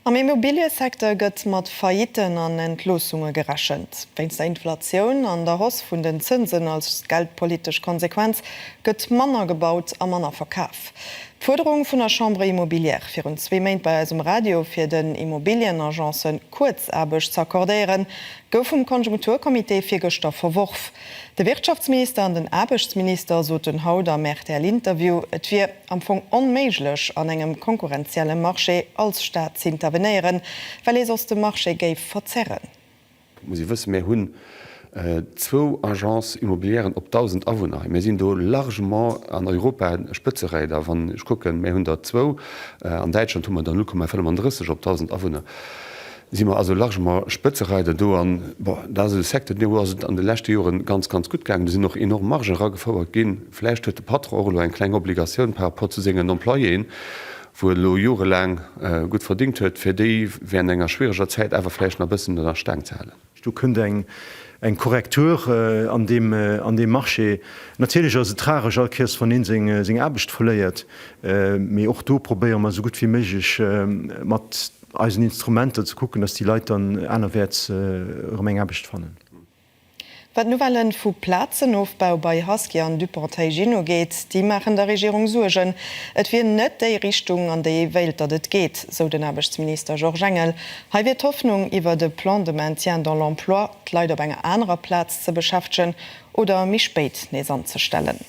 Am Immobiliësecteur gëtt mat Faillitten an Entloossunge gerechent. Wéinst der Inflatioun an der Hausse vun den Zënsen als geldpolitesch Konsequenz gëtt manner gebaut a manner verkaf. D'Fuerderung vun der Chambre immobilière virun zwee Méint bei eis um Radio, fir den Immobilienagencë Kuerzaarbecht ze accordéieren, gouf vum Konjunkturcomité virgëschter verworf. De Wirtschaftsminister an den Aarbechtsminister soten haut am RTL-Interview, et wier. am Fong onméiglech an engem konkurrenzielle Marché als Staat z'intervenéieren, well ee soss de Marché géif verzerren. Dat muss ee wëssen. Mir hunn zwou Agences immobilièren op 1.000 Awunner hei. Mir sinn do largement an Europa Spëtzereeder. Wann ech kucken, mir hunn der zwou, an Däitschland hu mer der 0,35 op 1.000 Awunner. si mer also largement Spëtzereider do an, bon, dat ass e Secteur, deem ass et an de leschte Jore ganz, ganz gutt gaangen. Do sinn och enorm Margen eragefouert ginn. Vläicht huet de Patron och elo eng kleng Obligatioun par rapport zu sengen Employéen, wou e lo jorelaang gutt verdéngt huet, fir déi während enger schwiereger Zäit awer vläicht nach e bëssen an der Staang ze halen. Do kënnt eng Korrektur an deem Marché. Natierlech ass et tragesch all Kéiers, wann een seng Aarbecht verléiert, mee och do probéiere mer esou gutt wéi méiglech mat eisen Instrumenter ze kucken, dass déi Leit dann anerwäerts erëm eng Aarbecht fannen. Wat d'Nouvelle vu Plazenofbau bei Husky an Dupont-Haygin ugeet, déi maachen der Regierung Suergen. Et wier net déi Richtung, an déi ee wéilt, datt et geet, sou den Aarbechtsminister Georges Engel Hei wier d'Hoffnung, iwwert e Plan de maintien dans l'emploi d'Leit op enger anerer Plaz ze beschäftegen oder méi spéit nees anzestellen.